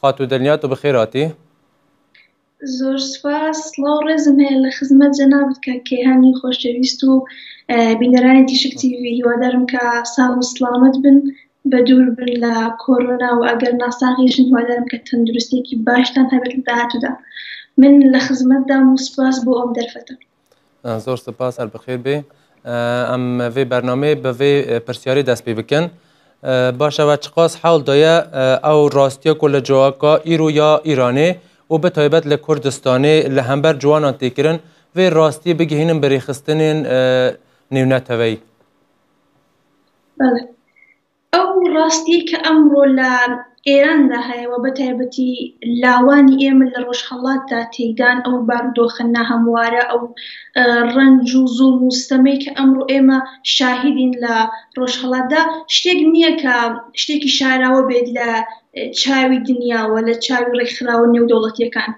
خاتوو دلنیا تو بخێر هاتی. زۆر سوپاس، سڵاو ڕێزم هەیە لە خزمەت جەنابت کاک کەیهانی خۆشەویست و بینەرانی تیشک تیڤی، هیوادارم کە ساغ و سڵامەت بن بە دوور بن لە کۆرۆنا و ئەگەر ناساغیشن هیوادارم کە تەندروستیەکی باشتان هەبێت لە داهاتوودا من لە خزمەتدام و سوپاس بۆ ئەم دەرفەتە. زۆر سپاس هەر بەخێر بێ ئەم ڤێ بەرنمەی بەێ پرسیاری دەست پێ بکەن باشەوە چقاس حاڵ دایە ئەو ڕاستە کۆ لە جوواکە ئیرو یا ئیرانێ و بە تایبەت لە کوردستانی لە هەمبەر جوانان تێکردن وێ ڕاستی بگەهێنم بەێخستنێن نێونەتەوەی ئەو ڕاستیەی کە ئەمڕۆ لە ئێراندا هەیە و بە تایبەتی لاوانی ئێمە لە ڕۆژهەڵاتدا تێیدان، ئەو بارودۆخە ناهەموارە، ئەو ڕەنج و زوڵم و ستەمەی کە ئەمڕۆ ئێمە شاهیدین لە ڕۆژهەڵاتدا، شتێک نییە کە شتێکی شاراوە بێت لە چاوی دنیاوە، لە چاوی ڕێکخراوە نێودەوڵەتیەکان.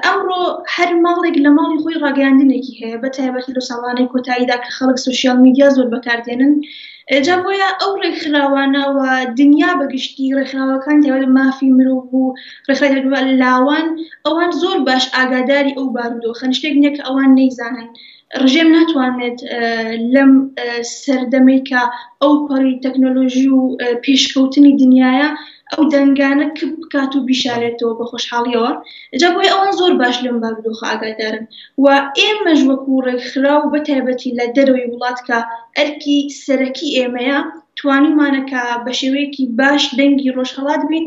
ئەمڕۆ هەر ماڵێک لە ماڵی خۆی ڕاگەیاندنێکی هەیە بە تایبەتی لە ساڵانەی کۆتاییدا کە خەڵک سوسیال میدیا زۆر بەکاردێنن جا بۆیە ئەو ڕێکخراوانەوە دنیا بەگشتی ڕێکخراوەکان دەوێت مافی مرۆڤ و ڕێکخراوە لاوان ئەوان زۆر باش ئاگاداری ئەو بارودۆخە شتێک نییە کە ئەوان نەیزانن ڕژێم ناتوانێت لەم سەردەمەی کە ئەو پەڕی تەکنۆلۆژی و پێشکەوتنی دنیاە ئەو دەنگانە کپ بکات و بیشارێتەوە بە خۆشحاڵیەوە جا بۆی ئەوان زۆر باش لەم بارودۆخە ئاگادارن و ئێمەش وەکو ڕێکخرا و بە تایبەتی لە دەرەوەی وڵات کە ئەرکی سەرەکی ئێمەیە توانیمانەکە بە شێوەیەکی باش دەنگی ڕۆژهڵات بین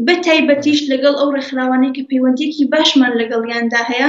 بە تایبەتیش لەگەڵ ئەو ڕێکخراوانەی کە پەیوەندیەکی باشمان لەگەڵیاندا هەیە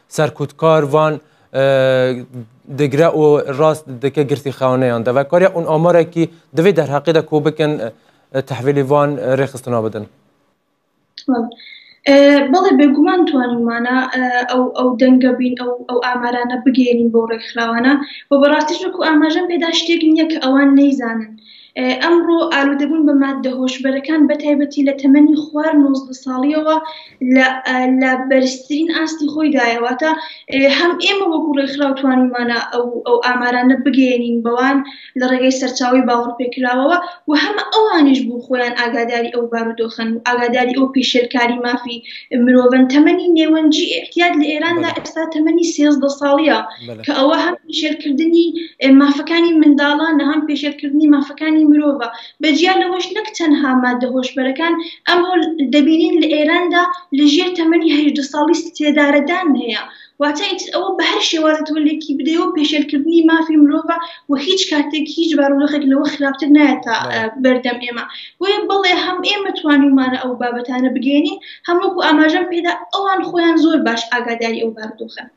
سەرکوتکار وان دگرە و ڕاست دکە گرتی خاونەیان دەوە کاریا اون ئامارێکی دەوێت دەرهاقیدا کۆ بکەن تحویلی وان ڕێخستنا بدەن. بەڵێ بێگومان توانیمانە ئەو ئەو دەنگە بین ئەو ئەو ئامارانە بگەێنین بۆ ڕێکخراوانە بۆ بەڕاستیش وەکو ئاماژەم پێدا شتێک نییە کە ئەوان نەیزانن. ئەمڕۆ ئالوودەبوون بە ماددە هۆشبەرەکان بە تایبەتی لە تەمەنی خوار نۆزدە ساڵییەوە لە بەرزترین ئاستی خۆیدایە، واتە هەم ئێمە وەکو ڕێکخراو توانیومانە ئەو ئامارانە بگەیەنین بەوان لە ڕێگەی سەرچاوەی باوەڕپێکراوەوە و هەم ئەوانیش بۆ خۆیان ئاگاداری ئەو بارودۆخەن و ئاگاداری ئەو پیشێلکاری مافی مرۆڤن. تەمەنی نێوەنجی ئیعتیاد لە ئێراندا ئێستا تەمەنی سێزدە ساڵییە. کە ئەوە هەم پێشێلکردنی مافەکانی منداڵانە، هەم پێشێلکردنی مافەکانی مرۆڤە. بە جیا لەوەش نەک تەنها ماددە هۆشبەرەکان، ئەمڕۆ دەبینین لە ئێراندا لە ژێر تەمەنی هەژدە ساڵی سێدارەدان هەیە. واتە ئیتر ئەوە بە هەر شێوازێ تۆ لێکی بدەیەوە پێشێلکردنی مافی مرۆڤە و هیچ کاتێک هیچ بارودۆخێک لەوە خراپتر نایەتە بەردەم ئێمە. بۆیە بەڵێ هەم ئێمە توانیومانە ئەو بابەتانە بگەیەنین، هەم وەکو ئاماژەم پێدا ئەوان خۆیان زۆر باش ئاگاداری ئەو بارودۆخەن.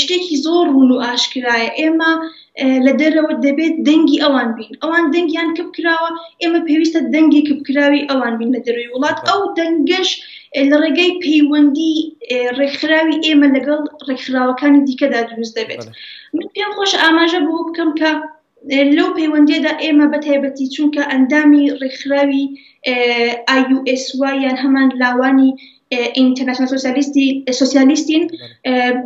شتێکی زۆر ڕوون و ئاشکرایە ئێمە لە دەرەوە دەبێت دەنگی ئەوان بین ئەوان دەنگیان کپ کراوە ئێمە پێویستە دەنگی کپ کراوی ئەوان بین لە دەروی وڵات ئەو دەنگەش لە ڕێگەی پەیوەندی ڕێکخراوی ئێمە لەگەڵ ڕێکخراوەکانی دیکەدا دروست دەبێت من پێم خۆش ئاماژە بۆ بکەم کە لەو پەیوەندییەدا ئێمە بە تایبەتی چونکە ئەندامی ڕێکخراوی IUSY یان هەمان لاوانی ئینتەرناسیۆناڵ سۆسیالیستی سۆسیالیستین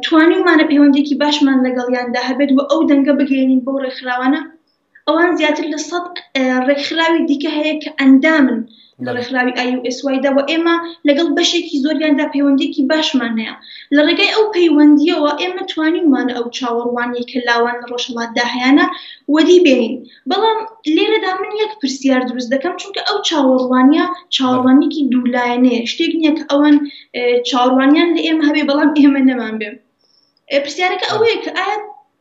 توانیومانە پەیوەندیکی باشمان لەگەڵیاندا هەبێت و ئەو دەنگە بگەێنین بۆ ڕێکخراوانە ئەوان زیاتر لە سەد ڕێکخراوی دیکە هەیە کە ئەندامن لە ڕێکخراوی IUSY دا، وە ئێمە لەگەڵ بەشێکی زۆریاندا پەیوەندییەکی باشمان هەیە. لە ڕێگای ئەو پەیوەندییەوە ئێمە توانیومانە ئەو چاوەڕوانییەی کە لاوان لە ڕۆژهەڵاتدا هەیانە وەدی بێنین. بەڵام لێرەدا من یەک پرسیار دروست دەکەم، چونکە ئەو چاوەڕوانییە چاوەڕوانییەکی دوو لایەنەیە، شتێک نییە کە ئەوان چاوەڕوانییان لە ئێمە هەبێ بەڵام ئێمە نەمانبێ. پرسیارەکە ئەوەیە کە ئایا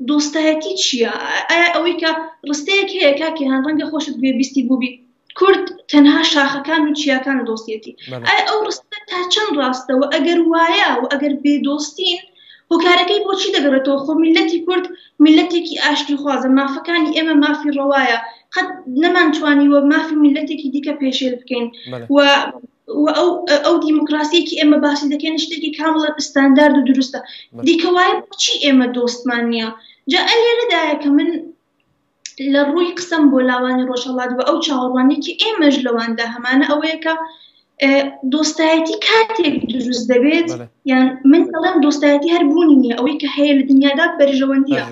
دۆستایەتی چییە؟ ئایا ئەوەی کە ڕستەیەک هەیە کاک کیهان ڕەنگە خۆشت گوێبیستی بووبی، کورد تەنها شاخەکان و چیاکان دۆستێتی ئەی ئەو ڕستە تا چەند ڕاستەوە ئەگەر وایە و ئەگەر بێ دۆستین هۆکارەکەی بۆچی دەگەڕێتەوە خۆ میلەتی کورد میلەتێکی ئاشتی خوازە مافەکانی ئێمە مافی ڕەوایە قەت نەمانتوانی وە مافی میلەتێکی دیکە پێشێل بکەین و ئەو دیموکراسیەکی ئێمە باسی دەکەن شتێکی کامڵە ئستاندارد و دروستە دیکەوایە چی ئێمە دۆستمان نییە جا ئەلێرەدایە کە من لە ڕووی قسەم بۆ لاوانی ڕۆژهڵات و ئەو چاوەڕوانێکی ئێمەش لەواندا هەمانە ئەوەیە کە دۆستایەتی کاتێک دروست دەبێت یان من دەڵێم دۆستایەتی هەر بوونی نیە ئەوەی کە هەیە لە دنیادا بەرژەوەندیە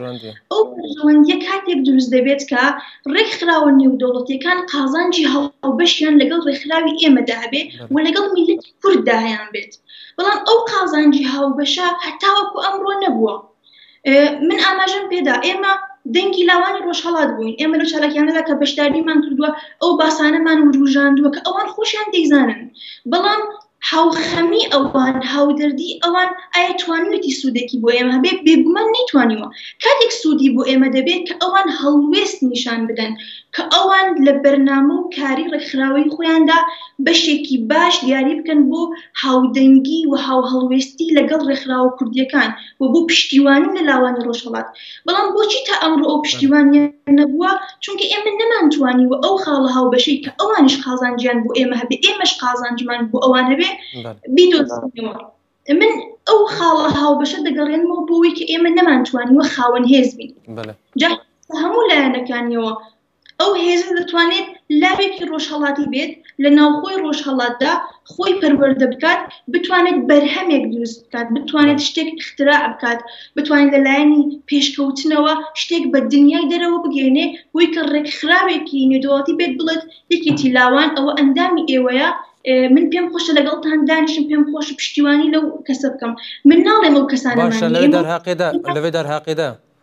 ئەو بەرژەوەندیە کاتێک دروست دەبێت کە ڕێکخراوە نێودەوڵەتەکان قازانجی هەڵبەشیان لەگەڵ ڕێکخراوی ئێمەدا هەبێت و لەگەڵ میلت کورددایان بێت بەڵام ئەو قازانجی هاوبەشە هەتاوەکو ئەمڕۆ نەبووە من ئاماژم پێدا ئێمە دەنگی لاوانی ڕۆژهڵات بووین ئێمە لە چالاکیانەدا کە بەشداریمان کردووە ئەو باسانەمان وروژاندووە کە ئەوان خۆشیان دەیزانن بەڵام هاوخەمی ئەوان هاودەردی ئەوان ئایا توانوێتی سوودێکی بۆ ئێمە هەبێت بێگومان نەیتوانیوە کاتێک سوودی بۆ ئێمە دەبێت کە ئەوان هەڵوێست نیشان بدەن کە ئەوان لە بەرنامە و کاری ڕێکخراوەی خۆیاندا بەشێکی باش دیاری بکەن بۆ هاودەنگی و هاوهڵوێستی لەگەڵ ڕێکخراوە کوردیەکان و بۆ پشتیوانی لە لاوانی ڕۆژهەڵات بەڵام بۆچی تا ئەمڕۆ ئەو پشتیوانیە نەبووە چونکە ئێمە نەمانتوانی و ئەو خاڵە هاوبەشەی کە ئەوانش قازانجیان بۆ ئێمە هەبێ ئێمەش قازانجمان بۆ ئەوان هەبێ بیدۆزینەوە من ئەو خاڵە هاوبەشە دەگەڕێنمەوە بۆی کە ئێمە نەمانتوانی وە خاوەن هێز بین جا هەموو لایەنەکانیەوە ئەو هێزە دەتوانێت لاوێکی ڕۆژهەڵاتی بێت لە ناوخۆی ڕۆژهەڵاتدا خۆی پەروەەردە بکات بتوانێت بەرهەمێک دروست بکات بتوانێت شتێک اختراع بکات بتوانێت لەلایەنی پێشکەوتنەوە شتێک بە دنیای دەرەوە بگەێنێ بۆی کە ڕێکخراوێکی نێدوڵاتی بێت بڵێت یەکێتی لاوان ئەوە ئەندامی ئێوەیە من پێم خۆشە لەگەڵتان دانیشم پێم خۆش پشتیوانی لەو کەسە بکەم من ناڵێم ئەو کەسانە لەێ دەرهاقێدا لەێ دەرهاقێدا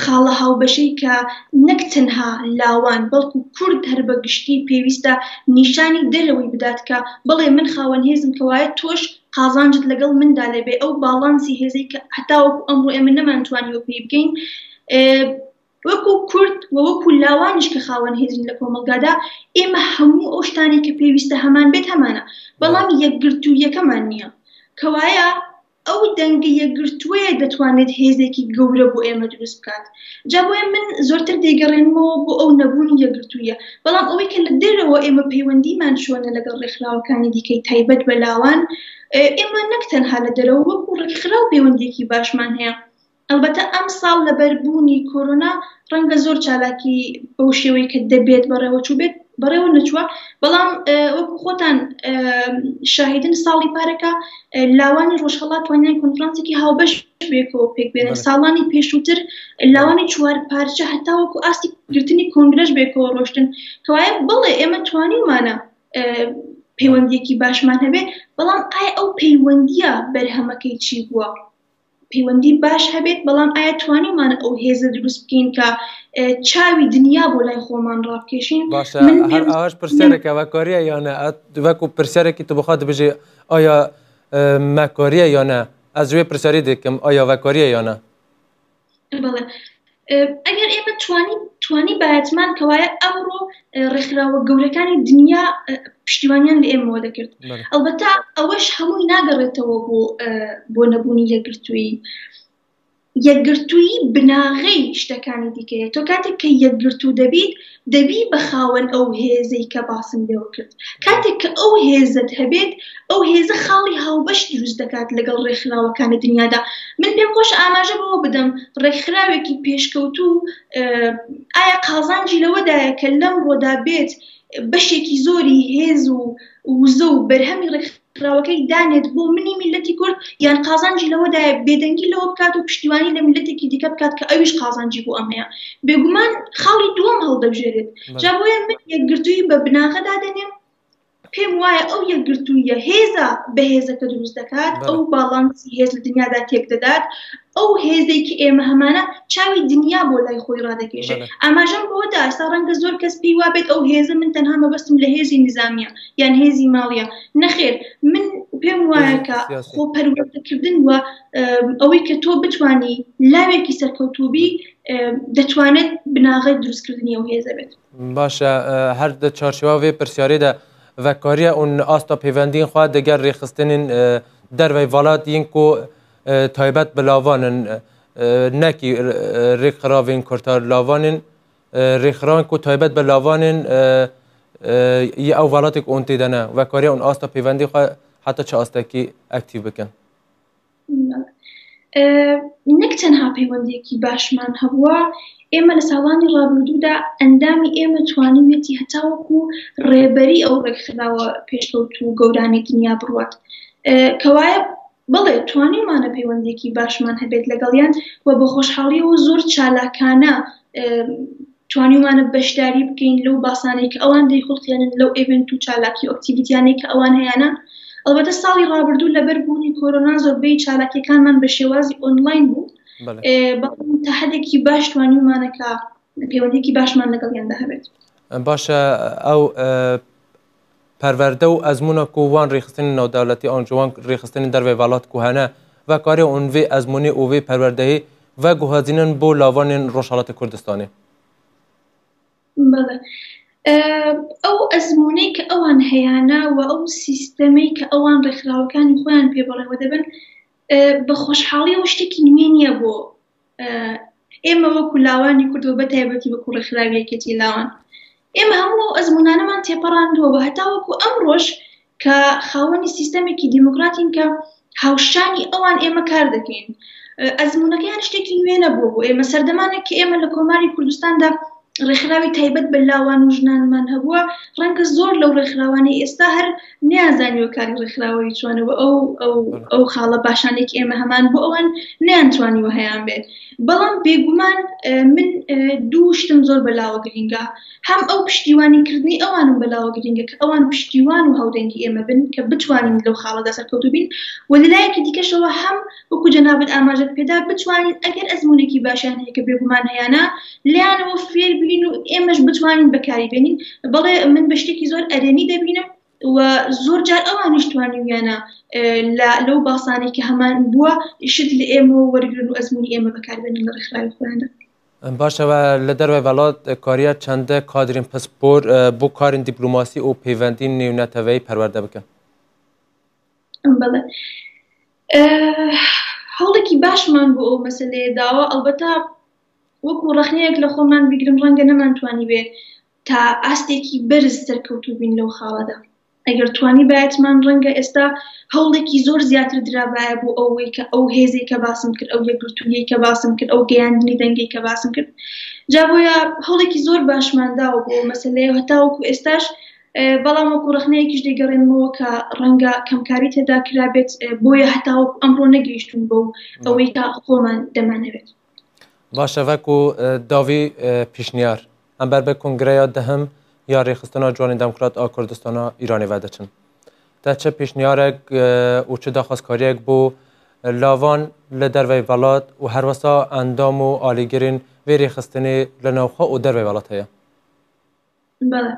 خاڵە هاوبەشەی کە نەک تەنها لاوان بەڵکو کورد هەر بە گشتی پێویستە نیشانی دەرەوەی بدات کە بەڵێ من خاوەن هێزم کەوایە تۆش قازانجت لەگەڵ مندا لەبێ ئەو باڵانسی هێزەی کە هەتاوەکو ئەمڕۆ ئێمە نەمانتوانیوە پێی بگەین وەکو کورد و وەکو لاوانیش کە خاوەن هێزین لە کۆمەڵگادا ئێمە هەموو ئەو شتانی کە پێویستە هەمان بێت هەمانە بەڵام یەکگرتوویەکەمان نییە کەوایە ئەو دەنگە یەکگرتووەیە دەتوانێت هێزێکی گەورە بۆ ئێمە دروست بکات. جا بۆیە من زۆرتر دەیگەڕێنمەوە بۆ ئەو نەبوونی یەکگرتوویە. بەڵام ئەوەی کە لە دەرەوە ئێمە پەیوەندیمان چۆنە لەگەڵ ڕێکخراوەکانی دیکەی تایبەت بە لاوان، ئێمە نەک تەنها لە دەرەوە وەکو ڕێکخراو پەیوەندییەکی باشمان هەیە، ئەڵبەتە ئەمساڵ لەبەر بوونی کۆرۆنا ڕەنگە زۆر چالاکی بەو شێوەی کە دەبێت بەڕێوەچووبێت بەڕێوە نەچووە، بەڵام وەکو خۆتان شاهیدن ساڵی پارەکە لاوانی ڕۆژهەڵات توانیان کۆنفرانسێکی هاوبەش بێکەوە پێک بێنن ساڵانی پێشووتر لاوانی چوار پارچە هەتا وەکو ئاستی گرتنی کۆنگرەش بێکەوە ڕۆشتن کەوایە بڵێ ئێمە توانیمانە پەیوەندیەکی باشمان هەبێ بەڵام ئای ئەو پەیوەندیە بەرهەمەکەی چی بووە؟ پەیوەندی باش هەبێت، بەڵام ئایا توانیومان ئەو هێزە دروست بکەین کە چاوی دنیا بۆ لای خۆمان ڕابکێشین؟ باشە هەر ئاش پرسیارێکە وە کۆریە یانە وەکو پرسیارێکی تو بخواد بژێ ئایا مەکۆریە یانە ئەزوێ پرسیاری دەکەم ئایا وەکۆریە یانە؟ بەڵێ ئەگەر ئێمە توانی توانی باەتمان کەوایە ئەمڕۆ ڕێکخراوە گەورەکانی دنیا پشتیوانیان لە ئێمەوە دەکرد ئەلبەتا ئەوەش هەمووی ناگەڕێتەوە بۆ بۆ نەبوونی یەکگرتووی یەکگرتووی بناغەی شتەکانی دیکەیە تۆ کاتێک کە یەکگرتوو دەبیت دەبی بە خاوەن ئەو هێزەی کە باسم لێوە کرد. کاتێک کە ئەو هێزەت هەبێت، ئەو هێزە خاڵی هاوبەش دروست دەکات لەگەڵ ڕێکخراوەکان لە دنیادا. من پێم خۆشە ئاماژە بەوە بدەم ڕێکخراوێکی پێشکەوتوو ئایا قازانجی لەوەدایە کە لەمڕۆدا بێت بەشێکی زۆری هێز و وزە و بەرهەمی ڕێکخراوەکان ڕاوەکەی دانێت بۆ منی میللەتی کورد، یان قازانجی لەوەدایە بێدەنگی لەوە بکات و پشتیوانی لە میللەتێکی دیکە بکات کە ئەویش قازانجی بۆ ئەم هەیە، بێگومان خاڵی دووەم هەڵدەبژێرێت. جا بۆیە من یەکگرتوویی بە بناغە دادەنێم، پێم وایە ئەو یەکگرتووییە هێزە بەهێزەکە دروست دەکات، ئەو باڵانسی هێز لە دنیادا تێکدەدات، ئەو هێزەی کە ئێمە هەمانە چاوی دنیا بۆ لای خۆی ڕادەکێشێت ئاماژەم بۆ داستا ڕەنگە زۆر کەس پێی وابێت ئەو هێزە من تەنها مەبەستم لە هێزی نظامیە یان هێزی ماڵیە نەخێر من پێم وایە کە خۆ پەروەردەکردن وە ئەوەی کە تۆ بتانی لاوێکی سەرکەوتوبی دەتوانێت بناغی دروستکردنی ئەو هێزە بێت باشە هەر دە چارچواێ پرسیارێدا ڤکاریە ئون ئاستا پەیوەندین خوا دەگەر ڕێخستنین دەرەوەی ڤڵات یینکۆ تایبەت بە لاوانن نەکی ڕێکخراوین کورتار لاوانین ڕێکخراوان کو تایبەت بە لاوانین یە ئەو وڵاتێک ئۆن تێدەنە وەکارێ ئەون ئاستە پەیوەندی خۆ حتا چ ئاستێکی ئەکتیو بکەن نەک تەنها پەیوەندێکی باشمان هەبووە ئێمە لە ساڵانی ڕابردوودا ئەندامی ئێمە توانیویەتی هەتاوەکو ڕێبەری ئەو ڕێکخراوە پێشکەوت و گەورانەی دنیا بڕوات کەوایە بەڵێ توانیومانە پەیوەندیەکی باشمان هەبێت لەگەڵیان و بە خۆشحاڵیەوە و زۆر چالاکانە توانیومانە بەشداری بکەین لەو باسانەی کە ئەوان دەیخوڵقێنن لەو ئێڤێنت و چالاکی و ئەکتیڤیتیانەی کە ئەوان هەیانە ئەڵبەتە ساڵی ڕابردوو لەبەر بوونی کۆرۆنا زۆربەی چالاکیەکانمان بە شێوازی ئۆنلاین بوو بەڵام تا حەدێکی باش توانیومانە کە پەیوەندیەکی باشمان لەگەڵیاندا هەبێت باشە ئەو پەروەردە و ئەزموونە کو وان ریخستنی ناودەولەتی ئانجوان ریخستنی دەر ڤە ڤەلات کوهەنە ڤە کارێ ئون ڤی ئەزموونی ئو ڤی پەروەردەیی ڤە گوهەزینن بو لاڤانێن روژهەڵاتی کوردستانی. بەڵێ ئەو ئەزموونەی کە ئەوان هەیانە و ئەو سیستەمەی کە ئەوان رێکخراوەکانی خۆیان پێ بەڕێوە دەبەن بە خۆشحاڵیەوە شتێکی نوێ نیە بۆ ئێمە وەکو لاوانی کورد و بەتایبەتی وەکو ڕێکخراوی یەکێتی لاوان ئێمە هەموو ئەو ئەزمونانەمان تێپەڕاندووە و هەتا وەکو ئەمڕۆش کە خاوەنی سیستەمێکی دیموکراتین کە هاوشانی ئەوان ئێمە کار دەکەین ئەزمونەکەیان شتێکی نوێ نەبووە بۆ ئێمە سەردەمانێک کە ئێمە لە کۆماری کوردستاندا ڕێکخراوی تایبەت بە لاوان و ژنانمان هەبووە ڕەنگە زۆر لەو ڕێکخراوانی ئێستا هەر نیازانیوە کاری ڕێکخراوەی چۆنەوە ئەو ئەو خاڵە باشانێک ئێمە هەمان بۆ ئەوان نیانتوانیوە هەیان بێت بەڵام بێگومان من دوو شتم زۆر بەلاوە گرینگە هەم ئەو پشتیوانی کردنی ئەوانم بەلاوە گرینگە کە ئەوان پشتیوان و هاودەنگی ئێمە بن کە بتوانین لەو خاڵەدا سەرکەوتوبین و لەلایەکی دیکەشەوە هەم وەکو جەنابت ئاماژەت پێدا بتوانین ئەگەر ئەزمونێکی باشیان هەیە کە بێگومان هەیانە لەیانەوە فێر بین و ئێمەش بتوانین بەکاری بێنین بەڵێ من بە شتێکی زۆر ئەرێنی دەبینم و زۆر جار ئەوانیش توانیویانە لە لەو باسانێک کە هەمان بووە شت لە ئێمەوە وەرگرن و ئەزمونی ئێمە بەکاربێنن لە ڕێکخراوی خۆیاندا باشە و لە دەروای وڵات کاریا چەندە کادرین پسپۆر بۆ کارین دیپلوماسی و پەیوەندی نێونەتەوەی پەروەردە بکەن بەڵێ هەوڵێکی باشمان بۆ ئەو مەسلەیە داوە ئەڵبەتا وەکو ڕخنەیەک لە خۆمان بگرم ڕەنگە نەمانتوانی بێت تا ئاستێکی بەرز سەرکەوتو بین لەو خاڵەدا ئەگەر توانی باەتمان ڕەنگە ئێستا هەوڵێکی زۆر زیاتر درابایە بۆ ئەوەی کە ئەو هێزی کە باسم کرد ئەو یەکگرتووی کە باسم کرد ئەو گەیاندنی دەنگی کە باسم کرد جا بۆیە هەوڵێکی زۆر باشمانداوە بۆ مەسلەیە هەتاوەکو ئێستاش بەڵام وەکو ڕەخنەیەکیش دەیگەڕێنمەوە کە ڕەنگە کەمکاری تێدا کرابێت بۆیە هەتاوە ئەمڕۆ نەگەیشتون بۆ ئەوەی تا خۆمان دەمانەوێت باشەڤک و داوی پیشنیار ئەمبەر بە کنگرەیە دەهم یا ڕێخستنا جوانی دەموکرات ئا کوردستانە ئیرانی وەدەچن تا چه پیشنیارێک و چه داخوازکاریێک بۆ لاوان لە دەروی وڵات و هەروەسا ئەندام و ئالیگرین وێ ڕێخستنی لە ناوخۆ و دەروی وڵات هەیە بەڵێ.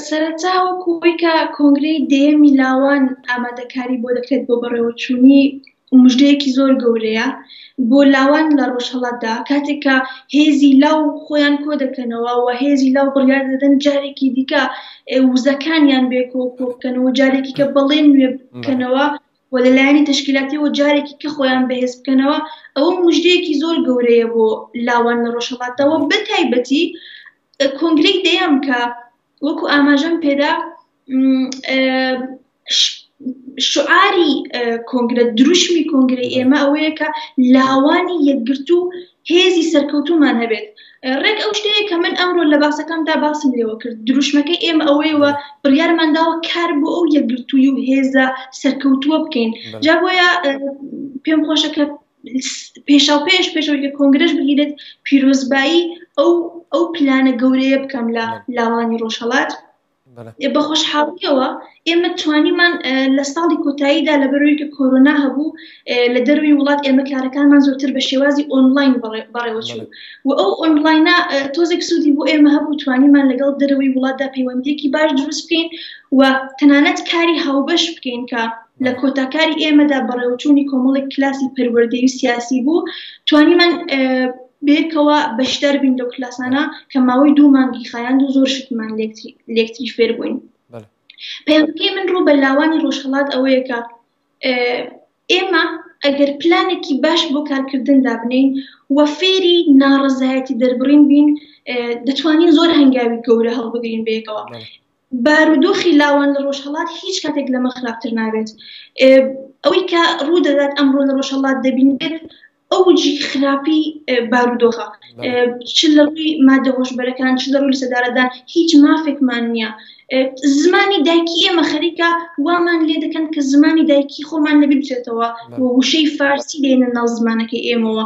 سەرەتا وەکو ئەوەی کە کۆنگرەی دەیەمی لاوان ئامادەکاری بۆ دەکرێت بۆ بەڕێوەچوونی مژدەیەکی زۆر گەورەیە بۆ لاوان لە ڕۆژهەڵاتدا، کاتێک کە هێزی لاو خۆیان کۆ دەکەنەوە و هێزی لاو بڕیار دەدەن جارێکی دیکە وزەکانیان بێ کۆ کۆ بکەنەوە و جارێکی کە بەڵێن نوێ بکەنەوە، و لە لایەنی تەشکیلاتیەوە جارێکی کە خۆیان بەهێز بکەنەوە ئەوە موژدەیەکی زۆر گەورەیە بۆ لاوان لە ڕۆژهەڵاتەوە بە تایبەتی کۆنگرەی دەیەم کە وەکو ئاماژەم پێدا شعاری کۆنگرە دروشمی کۆنگری ئێمە ئەوەیە کە لاوانی یەکگرتو هێزی سەرکەوتوومان هەبێت. ڕێک ئەو شتەیە کە من ئەمڕۆ لە باسەکەمدا باسم لێوە کرد، دروشمەکەی ئێمە ئەوەیە و بڕیارمان داوە کار بۆ ئەو یەکگرتووی و هێزە سەرکەوتووە بکەین. جا بۆیە پێم خۆشە کە پێشاوپێش پێشەوەی کە کۆنگرەش بگیرێت پیرۆزبایی ئەو ئەو پلانە گەورەیە بکەم لە لاوانی ڕۆژهەڵات. بە خۆشحاڵیەوە ئێمە توانیمان لە ساڵی کۆتاییدا لە بەرۆیکە کۆرۆنا هەبوو لە دەروی وڵات ئێمە کارەکانمان زۆرتر بە شێوازی ئۆنلاین بەڕێوەچوو و ئەو ئۆنلاینە تۆزێک سوودی بۆ ئێمە هەبوو توانیمان لەگەڵ دەروی وڵاتدا پەیوەندێکی باش دروست بکەین و تەنانەت کاری هاوبەش بکەین کە لە کۆتا کاری ئێمەدا بەڕێوەچوونی کۆمەڵێک کلاسی پەروەردەیی و سیاسی بوو توانیمان بێکەوە بەشدار بین لەو کلاسانە کە ماوەی دوو مانگی خایاند و زۆر شتمان لێکتری فێر بووین پێمکەی من ڕوو بە لاوانی ڕۆژهڵات ئەوەیە کە ئێمە ئەگەر پلانێکی باش بۆ کارکردن دابنین و فێری ناڕزایەتی دەربڕین بین دەتوانین زۆر هەنگاوی گەورە هەڵبگرین بێکەوە بارودۆخی لاوان لە ڕۆژهەڵات هیچ کاتێک لەمە خراپتر نابێت. ئەوەی کە ڕوو دەدات ئەمڕۆ لە ڕۆژهەڵات دەبینرێت ئەوجی خراپی بارودۆخە چ لە ڕووی مادە هۆشبەرەکان چ لە ڕووی سەدارەدان هیچ مافێکمان نییە زمانی دایکی ئێمە خەریکە وامان لێ دەکەن کە زمانی دایکی خۆمان لە بچێتەوە وشەی فارسی دێنە ناو زمانەکەی ئێمەوە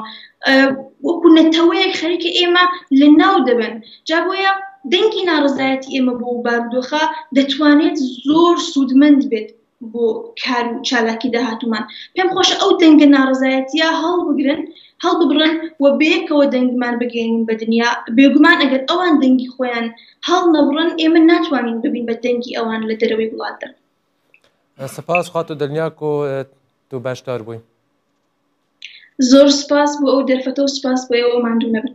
وەکو نەتەوەیەک خەریکە ئێمە لە ناو دەبن جا بۆیە دەنگی ناڕەزایەتی ئێمە بۆ ئەو بارودۆخە دەتوانێت زۆر سوودمەند بێت بۆ کار و چالاکی داهاتومان پێم خۆشە ئەو دەنگە ناڕزایەتە هەڵبگرن هەڵببڕن و بەیەکەوە دەنگمان بگەین بە دنیا بێگومان ئەگەر ئەوان دەنگی خۆیان هەڵ نەبڕن ئێمە ناتوانین ببین بە دەنگی ئەوان لە دەرەوەی وڵاتدا سپاس خات و دڵنیاک و دوو باشدار بووین زۆر سپاس بۆ ئەو دەرفەتە و سپاس بۆ ئەوە ماندوو نەبن